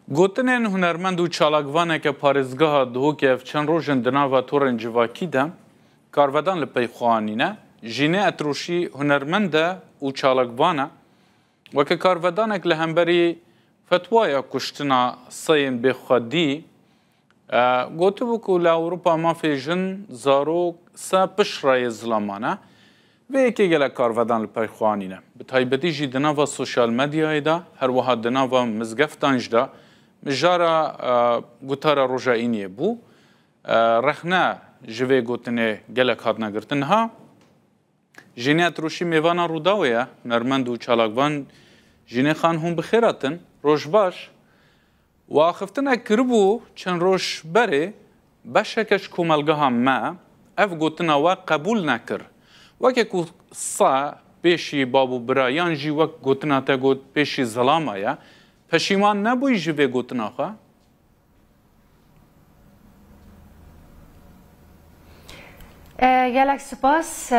Gotinên hunermend û çalakvaneke parêzgeha Duhokê ev çend roj in di nava torên civakî de karvedan li pey xwe anîne. Jînê Etroşî hunermend e û çalakvan e. Weke karvedanek li hemberî fetwaya kuştina seyên bêxwedî, Gotibû ku li Ewropa mafê jin, zarok, se piştre yê zilaman e. Vê yekê gelek karvedan li pey xwe anîne. Bi taybetî jî di nava sosyal medyayê de, her wiha di nava mizgeftan jî de mijara gotara roja îniyê bû. Rexne ji vê gotinê gelek hatine girtin niha. Jînê Etrûşî mêvana Rûdawê ye, hunermend û çalakvan Jînê Xan hûn bi xêr hatin. Roj baş. We axiftinek kiribû çend roj berê, beşeke ji komelgeha me ev gotina we qebûl nekir. Weke ku se pêşî bav û bira yan jî wek gotina te got pêşî zilama ye, peşîman nebûyî ji vê gotina xwe? Gelek sipas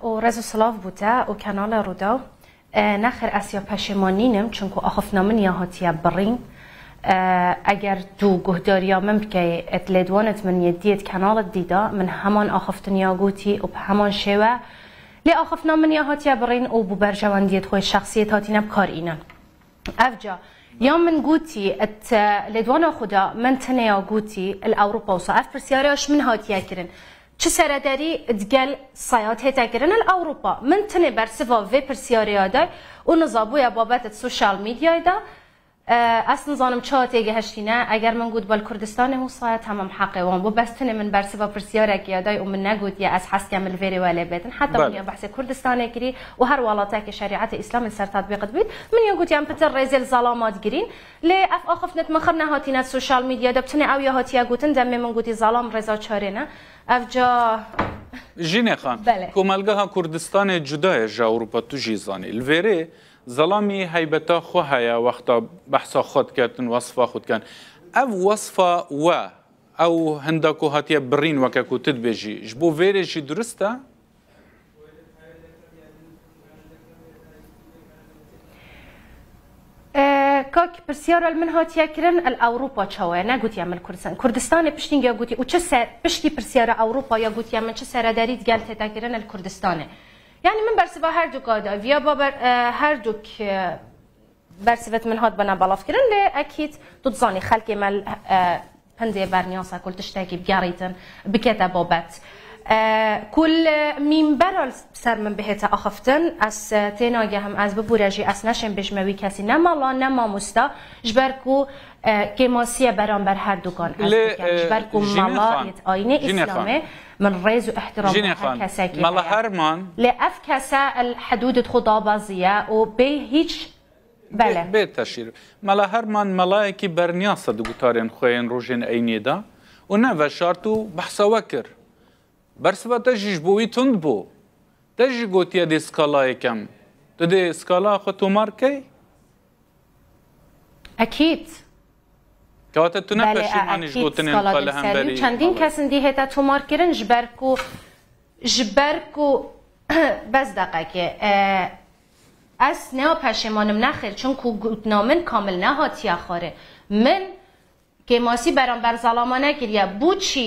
û rez û silav bû te û kanala Rûdaw. Nexir ez ya peşêman nînim çunku axiftina min ya hatiye birîn. Eger tu guhdariya min bikeyê êt lêdwanit min yê diyêt kanalit dîda min heman axiftin ya gotî û bi heman şêwe lê axiftina min ya hatiye birîn û bi berjewendiyêt xwe yê şexsî yê tatîne bi kar înin. Evca ya min gotî et lêdwana xwe de min tineya gotî li Ewropa wisa ev pirsyara ji min hatiye kirin çi seredarî di gel Sayad hête kirin li Ewropa min tinê bersiva vê pirsyarêya day û nizabûye babet di social mediayê de ez nizanim çawa têgihiştîne eger min got bal Kurdistanê hû Sayad hemam heqê wan bû bes tinê min bersiva pirsyarekê ya day û min negotiye ez heskem li vêrê we lê bêdin heta min ya behsê Kurdistanê kirî û her welate ke şerîetê îslam li ser tatbîq dibît, min ya gotiyan pitir rêzê li zala ma digirîn. Lê ev axiftina di min xir nehatîne di sosyal medya de, bi tenê ew ya hatiye gotin demê min gotî zalam rêza çarê ne. Ev ca. Jîne Xan, Belê. Komelgeha Kurdistanê cuda ye ji Ewropa tu jî zanî. Li vêrê zalamî heybeta xwe heye wexta behsa xwe dike din wesifa xwe dikin. Ev wesifa we ew hinda ku hatiye birîn weke ku tu dibêjî ji bo vêrê jî durist e? Kak pirsyara li min hatiye kirin el Ewropa çawa ye negotiye min Kurdistan. Kurdistanê piştîngiya gotî û çi ser piştî pirsyara Ewropa ya gotiye min çi seredarî di gel têta kirin el Kurdistanê. Yani min bersiva her du kada viya baber her du Bersivit min hat bina belavkirin lê ekîd tu dizanî xelkê me li hindê berniyasa ku li tiştekî bigerîtin bikete babet. Ku li mîmbera li ser min bihête axiftin ez tênagehim ez bibûre jî ez neşêm bêjme wî kesî ne mala ne mamosta ji ber ku kêmasiye beramber herdukan ez dikim ji ber ku mala yê di ayînê îslamê Min rêz û îhtîram bo her kesekî heye. Lê ev kese el hedûdê xwe dabaziye û bê hîç bele. Bê teşhîr. Mela Herman melayekî berniyase di gutarên xwe yên rojên eyniyê de û ne veşart û behsa we kir. Bersiva te jî ji bo wî tund bû. Te jî gotiye dê skalayê kem. Tu dê skalaya xwe tomar bikey? Ekîd. Kewata tu ne Belê a peşîman î ji ekîd gotinên skala xwe li dimserî û hemberî çendîn mala kes in dî hêta tomar kirin ji ber ku ji ber ku bes deqekê ez nea peşêmanim nexêr çimkû gotina min kamil nehatiye xwarê min kêmasî beramber zalama nekiriye bû çî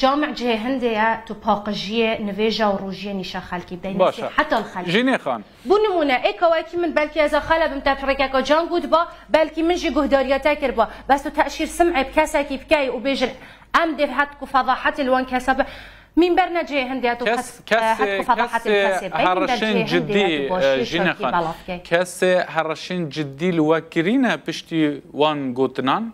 Cami cihê hindê ye, tu paqijiyê nivêja û rojiyê nîşa xelkî bidey, nesîheta li xelkê bikî. Bo nimûne, ê ka wekî min belkî ez a xele bim te pirrikeka can gotba, belkî min jî guhdariya te kirba, bes tu teşîr sim'ê bi kesekî bikey û bêjin em dê hetk û fedahetê li wan kesa bi Mînber ne cihê hindê ye tu hetk û fedahetê li kesê bikey, mînber cihê hindê ye tu başiyê xelkî belav bikey. Kesê herişên cidî li we kirîne piştî wan gotinan?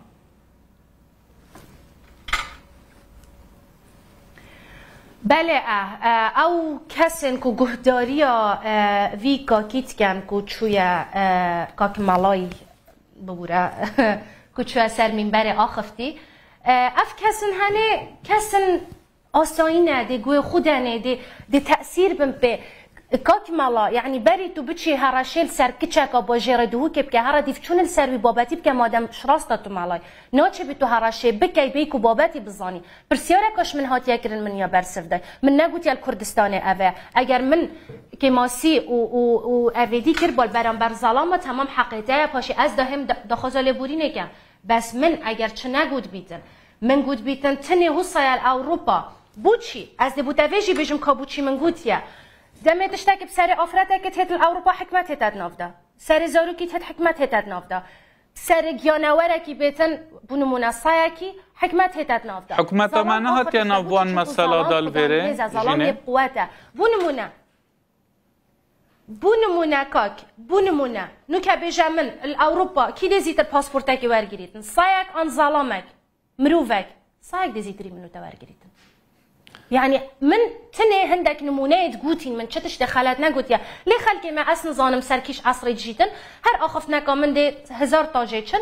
Belê e, ew kesên ku guhdariya vî kakî diken ku çûye Kaki Malay bibûre ku çûye ser mîmberê axivtî, ev kes in henê kes in Asayî nêdê, guhê xwe de nêdê, dê tesîr bin pê. Kak mela, yanî berî tu biçî hereşê li ser kiçeka bajêr e duhûkê bike, here dîvçûn li ser wî babetî bike madem ji rast e tu melayî. Naçêbî tu hereşê bikey bêyî ku babetî bizanî. Pirsiyareka ji min hatiye kirin min ya ber siv de. Min negotiye li Kurdistanê ev e. Eger min kêmasî û û û evêdî kir bal beramber zalama temam heqê te ye. Paşê ez dahêm daxwaza lêborînê ke. Bes min eger çi negotbîtin, min gotbîtin ti nê husayel Ewropa. Buçî, ez dê bo tevê jî bêjim ka buçî min gotiye. Demê tiştekî bi serê afiretekî têt li Ewropa hikmet hête di nav de. Serê zarokî têt hikmet hête di nav de. Serê giyanewerekî bêtin bo nimûne sayekî hikmet hête di nav de. Hikûmeta me nehatiye nav wan mesela da li vêrê jinê. Zalam yê bi quwet e. Bo nimûne. Bû nimûne kak, bû nimûne. Nû ke bêje min, li Ewropa kî dê zîtir pasportekê wergirîtin? Sayek an zalamek, mirovek? Sayek dê zîtirî min û te wergirîtin. Yanî min tinê hindek nimûneyê digotîn min, çi tiştê xelet negotiye. Lê xelkê me ez nizanim serkîş esrê dijîtin, her axiftineka min dê hezar tajê çin.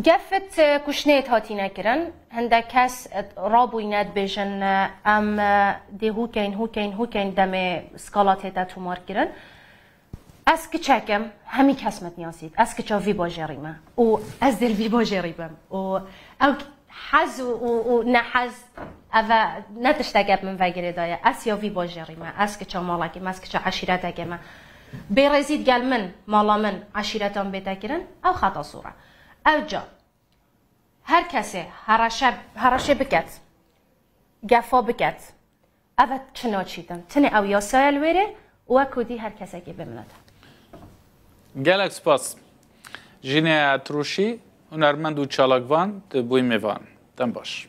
Gefit kuşneyê hatîne kirin, hindek kes rabûyîne dibêjin em dê hûkên hûkên hûkên demê skala tête tomarkirin. Ez kiçek im, hemî kes min nasît, ez kiça vî bajêrî me û ez dê li vî bajêrî bim û ew hez û nehez ev e ne tişteke bi min ve girêdaye, ez ya vî bajêrî me, ez kiça malekê me, ez kiça eşîretekê me. Bêrêzî digel min, mala min, eşîreta min bê tekirin, ew xeta sor e. Ewca her kesê hereşe hereşê biket, gefa biket, ev e çi naçîtin. Tinê ew yasaya li wêrê û we kurdî her kesekê bê minet e. Gelek spas. Jîneya Etrûşî, hunermend û çalakvan di bûyî mêvan. Dem baş.